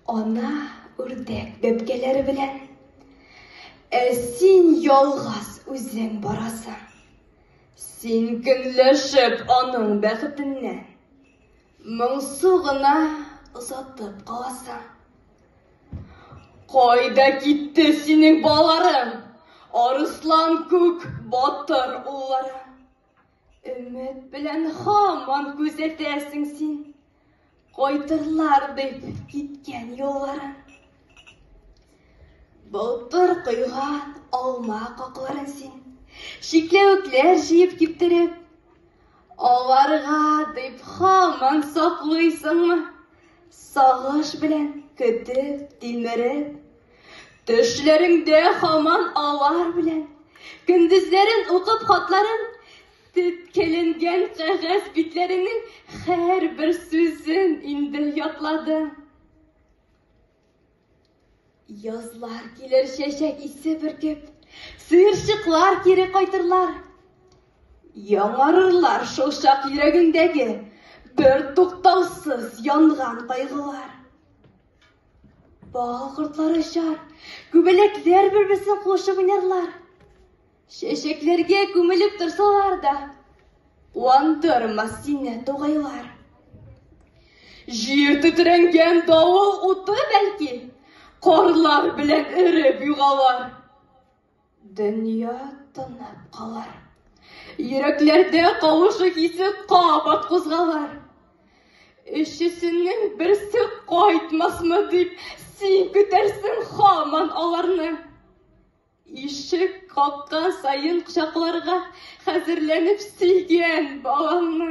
Ана үрдәк бәбкәләре белән. Ә син ялгыз үзең барасың. Син көнләшеп аның бәхетеннә. Моңсу гына озатып каласың. Кайда китте синең балаларың? Арыслан күк батыр уллары. Өмет белән хаман күзәтәсең син, Кайтырлар дип киткән юлларын. Былтыр койган алма какларын син, Шикләвекләр җыеп киптереп, Аларга дип хаман саклыйсыңмы? Сагыш белән көтеп, тилмереп, Төшләреңдә хаман алар белән. Көндезләрен укып хатларын, тепкеленгән кәгазь битләренең һәр бер сүзен инде ятлады. Язлар килер чәчәк исе бөркеп, сыерчыклар кире кайтырлар. Яңарырлар шул чак йөрәгеңдәге бер туктаусыз янган кайгылар. Бал кортлары очар, күбәләкләр бер-берсен куышып уйнарлар. Чәчәкләргә күмелеп торсалар да, куандырмас сине тугайлар. Җир тетрәнгән давыл уты бәлки, карлар белән эреп югалар. Дөнья тынып калыр. Йөрәкләрдә кавышу хисе кабат кузгалыр. Өчесенең берсе кайтмасмы дип, син көтәрсең хаман аларны. Ишек каккан саен кочакларга хәзерләнеп сөйгән балаңны.